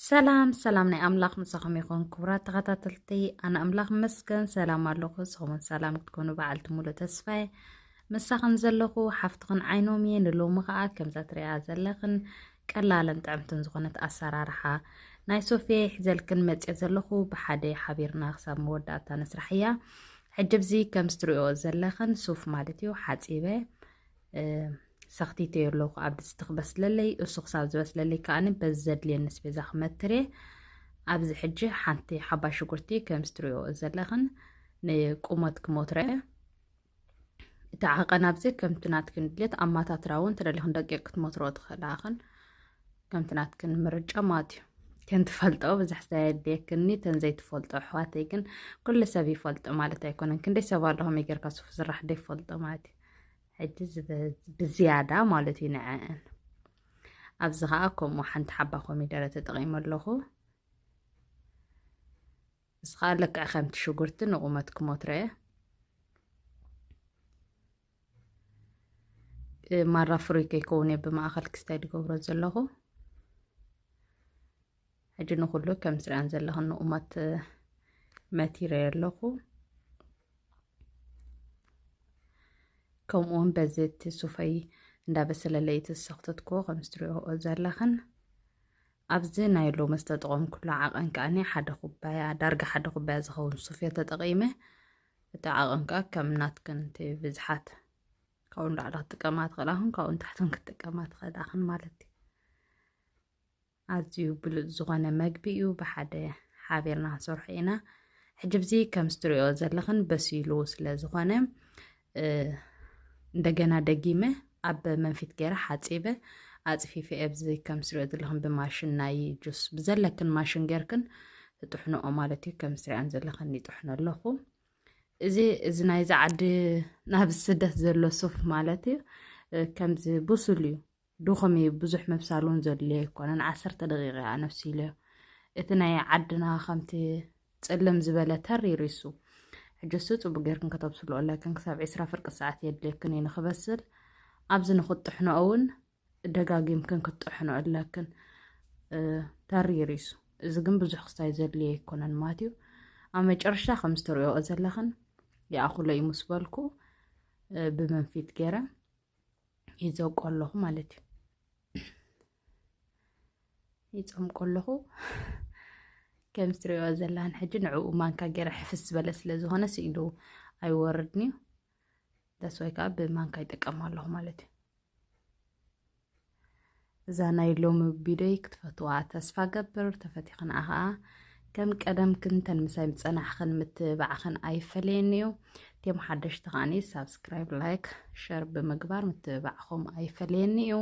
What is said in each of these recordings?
ሰላም ሰላም ናይ ኣምላኽ ምሳኹም ይኹን ክቡራት ተኸታተልቲ ኣነ ኣምላኽ መስገን ሰላም ኣለኹ ንስኹምን ሰላም ክትኮኑ በዓልቲ ሙሉእ ተስፋየ ምሳኽን ዘለኹ ሓፍትኽን ዓይኖም እየ ንሎሚ ከዓ ከምዛ ትሪኣ ዘለኽን ቀላልን ጥዕምትን ዝኾነት ኣሰራርሓ ናይ ሶፍየ ይሕዘልክን መፅኦ ዘለኹ ብሓደ ሓቢርና ክሳብ መወዳእታ ነስራሕ እያ ሕጂ ብዚ ከም ዝትሪኦ ዘለኽን ሱፍ ማለት እዩ ሓፂበ ሰኽቲተዮ ኣለኹ ኣብ ድስቲ ክበስለለይ እሱ ክሳብ ዝበስለለይ ከዓኒ በዚ ዘድልየኒ ስቤዛ ክመትር እየ ኣብዚ ሕጂ ሓንቲ ሓባይ ሽጉርቲ ከም ዝትሪኦ ዘለኽን ንቁመት ክሞትረ እቲ ዓቐን ኣብዚ ከምቲ ናትክን ድሌት ኣማታትራ እውን ተደሊኽን ደቂቕ ክትሞትሮ ትኽእላኽን ከምቲ ናትክን ምርጫ ማለት እዩ ከንትፈልጦ ብዙሕ ዘየድልየክኒ ተን ዘይትፈልጦ ኣሕዋተይ ግን ኩሉ ሰብ ይፈልጦ ማለት ኣይኮነን ክንደይ ሰብ ኣለኹም ይገርካ ሱፍ ስራሕ ደይፈልጦ ማለት እዩ ሕጂ ብዝያዳ ማለት እዩ ንዐአን ኣብዚ ከዓ ከምኡ ሓንቲ ሓባ ኮሚደረ ተጠቒመ ኣለኹ እዚ ከዓ ልክዕ ከምቲ ሽጉርቲ ንቑመት ክሞትረ ማራ ፍሩይ ከይከውን እየ ብማእኸል ክስታይ ዝገብሮ ዘለኹ ሕጂ ንኹሉ ከም ትሪኣን ዘለኹ ንኡማት መቲረ ኣለኹ ከምኡውን በዚ እቲ ሱፈይ እንዳበሰለለይ እቲ ዝሰኽተትኩ ከም ዝትሪኦ ዘለኽን ኣብዚ ናይ ሎሚ ዝተጠቐምኩሉ ዓቐን ከዓኒ ሓደ ኩባያ ዳርጋ ሓደ ኩባያ ዝኸውን ሱፍዮ ተጠቒመ እቲ ዓቐን ከዓ ከም ናትክን እቲ ብዝሓት ካብኡ ንላዕሊ ክትጥቀማ ትኽእላኹን ካብኡ ንታሕትን ክትጥቀማ ትኽእላኽን ማለት እዩ ኣዝዩ ብሉጽ ዝኾነ መግቢ እዩ ብሓደ ሓቢርና ክንሰርሖ ኢና ሕጂ ብዚ ከም ዝትሪኦ ዘለኽን በሲሉ ስለ ዝኾነ እንደገና ደጊመ ኣብ መንፊት ገይረ ሓፂበ ኣፅፊፈ ኣብዚ ከም ስሪኦ ዘለኽን ብማሽን ናይ ጁስ ብዘለክን ማሽን ጌርክን ትጥሕንኦ ማለት እዩ ከም ስሪኣን ዘለኽን ይጥሕኖ ኣለኹ እዚ እዚ ናይዚ ዓዲ ናብ ስደት ዘሎ ሱፍ ማለት እዩ ከምዚ ብሱል እዩ ድኹም እዩ ብዙሕ ምብሳል እውን ዘድልዮ ኣይኮነን ዓሰርተ ደቂቕ እያ ነብሲልዮ እቲ ናይ ዓድና ከምቲ ፅልም ዝበለ ተር ይሪሱ ሕጅሱ ፅቡቅ ጌርክን ከተብስሉ ኣለክን ክሳብ ዒስራ ፍርቂ ሰዓት የድልየክን እዩ ንክበስል ኣብዚ ንክትጥሕኖ እውን ደጋጊምክን ክትጥሕኖ ኣለክን ተር ይሪሱ እዚ ግን ብዙሕ ክስታይ ዘድልዮ ኣይኮነን ማለት እዩ ኣብ መጨረሻ ከም ዝተሪኦ ዘለኽን ይኣኽሎ እዩ ምስ በልኩ ብመንፊት ገይረ ይዘውቆ ኣለኹ ማለት እዩ ይፀምቆ ኣለኹ ከም ዝትሪኦ ዘላን ሕጂ ንዕኡ ማንካ ገይረ ሕፍስ ዝበለ ስለ ዝኾነ ስኢሉ ኣይወርድን እዩ ዳስዋይ ከዓ ብማንካ ይጥቀም ኣለኹ ማለት እዩ እዛ ናይ ሎሚ ቢዶይ ክትፈትዋ ተስፋ ገብር ተፈቲኽን ኣኸኣ ከም ቀደምክን ተን ምሳይ ምፀናሕኽን ምትብባዕኽን ኣይፈለየኒ እዩ ቴም ሓደሽቲ ከዓኒ ሳብስክራይብ ላይክ ሸር ብምግባር ምትብባዕኹም ኣይፈለየኒ እዩ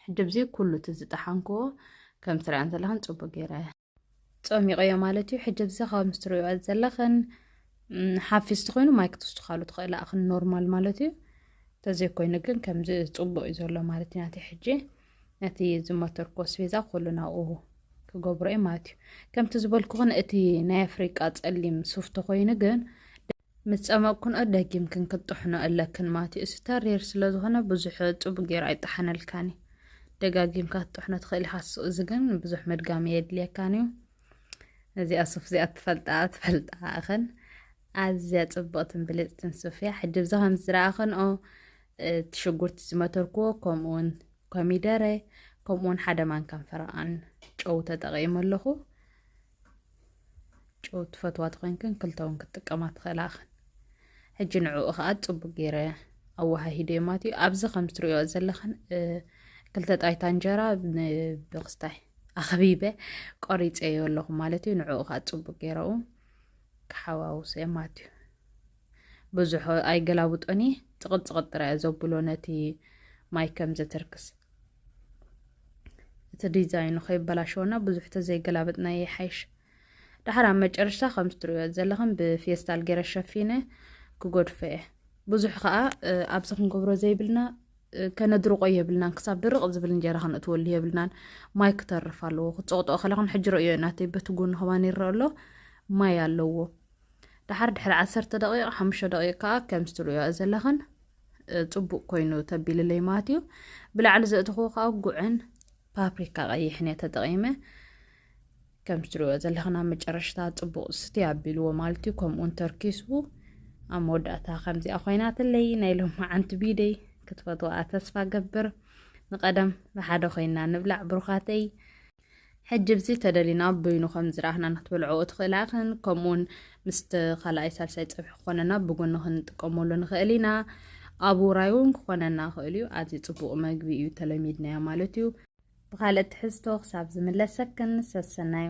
ሕጂ ብዚ ኩሉ እቲ ዝጠሓንክዎ ከም ትሪኣን ዘለኽን ፅቡቅ ገይረ ጸሚቐዮ ማለት እዩ ሕጂ ብዚ ካብ ምስ ትሪኦ ዘለኽን ሓፊስ ትኾይኑ ማይ ክትውስኻሉ ትኽእል ኣኽን ኖርማል ማለት እዩ ተዘይኮይኑ ግን ከምዚ ጽቡቅ እዩ ዘሎ ማለት እዩ ናተይ ሕጂ ነቲ ዝመተርኮ ስቤዛ ኩሉ ናብኡ ክገብሮ እዩ ማለት እዩ ከምቲ ዝበልኩኽን እቲ ናይ ኣፍሪቃ ጸሊም ሱፍ ተኾይኑ ግን ምስ ጸመቕክንኦ ደጊምክን ክትጥሕኖ ኣለክን ማቴዎስ ተሪር ስለ ዝኾነ ብዙሕ ጽቡቕ ጌሩ ኣይጠሓነልካን እዩ። ደጋጊምካ ክትጥሕኖ ትኽእል ኢኻ እሱ እዚ ግን ብዙሕ ምድጋም የድልየካን እዩ። እዚኣ ሱፍ እዚኣ ትፈልጣ ትፈልጣ እኽን ኣዝያ ጽብቕትን ብልጽትን ሱፍ እያ። ሕጂ ብዛ ከም ዝረኣኽንኦ እቲ ሽጉርቲ ዝመተርክዎ ከምኡውን ኮሚደረ ከምኡውን ሓደ ማንካን ፈረቓን ጨው ተጠቒሙ ኣለኹ። ጨው ትፈትዋ ተኾይንክን ክልተ እውን ክትጥቀማ ትኽእላ እኽን ሕጂ ንዕኡ ከዓ ፅቡቅ ገይረ ኣወሃሂደ ማለት እዩ ኣብዚ ከም ትሪኦ ዘለኽን ክልተ ጣይታ እንጀራ ብክስታይ ኣኽቢበ ቆሪፀዮ ኣለኹ ማለት እዩ ንዕኡ ከዓ ፅቡቅ ገይረኡ ክሓዋውሰ ማለት እዩ ብዙሕ ኣይገላብጦን እየ ፅቕጥፅቕጥ ጥራዮ ዘብሎ ነቲ ማይ ከም ዘተርክስ እቲ ዲዛይኑ ከይበላሸወና ብዙሕ ተዘይገላበጥና ይሓይሽ ድሓር ኣብ መጨረሻ ከም ዝትሪዮ ዘለኹም ብፌስታል ገይረ ሸፊነ ክጎድፈ እየ ብዙሕ ከዓ ኣብዚ ክንገብሮ ዘይብልና ከነድርቆ የብልናን ክሳብ ድርቕ ዝብል እንጀራ ከነእትወሉ የብልናን ማይ ክተርፍ ኣለዎ ክፀቕጦ ከለኹን ሕጂ ርእዮ ናተይ በቲ ጎኒ ከማን ይረአ ኣሎ ማይ ኣለዎ ድሓር ድሕሪ ዓሰርተ ደቂቕ ሓሙሽተ ደቂቕ ከዓ ከምዚ ትርእዮ ዘለኽን ፅቡቅ ኮይኑ ተቢልለይ ማለት እዩ ብላዕሊ ዘእትኹዎ ከዓ ጉዕን ፓፕሪካ ቀይሕን እየ ተጠቂመ ከም ትሪእዎ ዘለኽና መጨረሽታ ፅቡቅ ስቲ ኣቢልዎ ማለት እዩ ከምኡውን ተርኪሱ ኣብ መወዳእታ ከምዚኣ ኮይናትለይ ናይ ሎማዓንቲ ቢደይ ክትፈትዋ ተስፋ ገብር ንቀደም ብሓደ ኮይና ንብላዕ ብሩኻተይ ሕጂ ብዚ ተደሊና በይኑ ከም ዝረኣኽናን ክትበልዕኦ ትኽእል ኣኽን ከምኡውን ምስቲ ካልኣይ ሳልሳይ ፀብሒ ክኾነና ብጎኒ ክንጥቀመሉ ንኽእል ኢና ኣብ ውራይ እውን ክኾነና ይኽእል እዩ ኣዝዩ ፅቡቅ መግቢ እዩ ተለሚድናዮ ማለት እዩ ብካልእ ትሕዝቶ ክሳብ ዝምለሰክን ሰሰናዩ